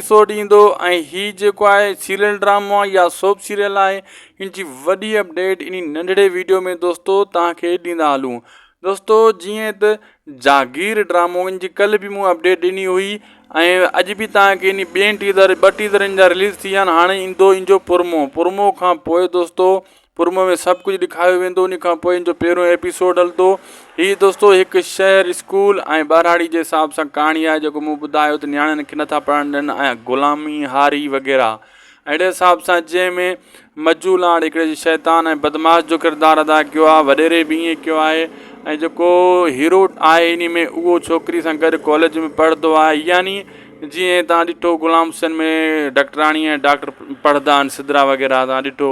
episode ايندو ۽ هي جيڪو آهي سيريل ڊرامو يا سوپ سيريل آهي ان جي وڏي اپڊيٽ اني ننڍڙي ويڊيو ۾ دوستو توهان کي ڏيندا هلون دوستو جيئن ته جاگير ڊرامو ان جي ڪل به مون اپڊيٽ ڏني هئي ۽ اڄ به توهان کي ان ٻين ٽيزر ٻه ٽيزر ان جا رليز ٿي ويا آهن هاڻي ايندو ان جو پرمو پرمو کان پوء دوستو پرومو ۾ سڀ ڪجهه ڏيکاريو ويندو انهي کان پوء ان جو پهريون ايپيسوڊ هلندو هي دوستو هڪ شهر اسڪول ۽ ٻهراڙي جي حساب سان ڪهاڻي آهي جيڪو مون ٻڌايو ته نياڻين کي نٿا پڙهڻ ڏين ۽ غلامي هاري وغيره اهڙي حساب سان جنهن ۾ مجو لاڙ هڪڙي جي شيطان ۽ بدماش جو ڪردار ادا ڪيو آهي وڏيري به ائين ڪيو آهي ۽ جيڪو هيرو آهي انهي ۾ اهو ڇوڪري سان گڏ ڪاليج ۾ پڙهندو آهي يعني جيئن تان ڏٺو غلام حسين ۾ ڊاڪٽراڻي ۽ ڊاڪٽر پڙهندا آهن سدرا وغيره تان ڏٺو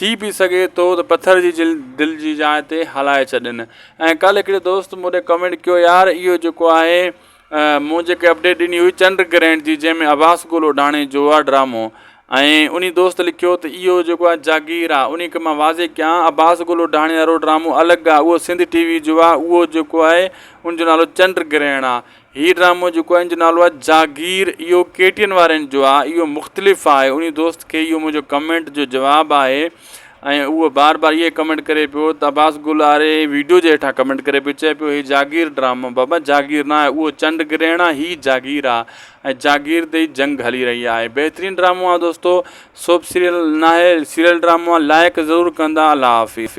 ٿي به سگهي ٿو ته پٿر جي جلد دل جي جاء تي هلائي ڇڏين ۽ ڪالهه هڪڙي دوست مون ڏي ڪمينٽ ڪيو يار اهو جيڪو آهي مون جيڪي اپڊيٽ ڏني هئي چنڊ گرهڻ جي جنهن ۾ عباس گل اوڍاڻي جو آهي ڊرامو ۽ انهي دوست لکيو ته اهو جيڪو آهي جاگير آهي انهي کي مان واضح ڪيان عباس گل اوڍاڻي وارو ڊرامو الڳ آهي اهو سنڌ ٽي وي جو آهي اهو جيڪو آهي ان جو نالو چنڊ گرهڻ آهي هي ڊرامو جيڪو آهي ان جو نالو آهي جاگير اهو ڪي ٽي اين وارن جو آهي اهو مختلف آهي انهي دوست کي اهو منهنجو ڪمينٽ جو جواب آهي ۽ اهو بار بار اهي ڪمينٽ ڪري پيو ته عباس گل آري ويڊيو جي هيٺان ڪمينٽ ڪري پيو چئي پيو هي جاگير ڊرامو بابا جاگير نه آهي اهو چنڊ گرهڻ آهي هي جاگير آهي ۽ جاگير تي جنگ هلي رهي آهي بهترين ڊرامو آهي دوستو سوپ سيريل نه آهي سيريل ڊرامو آهي لائق ضرور ڪندا الله حافظ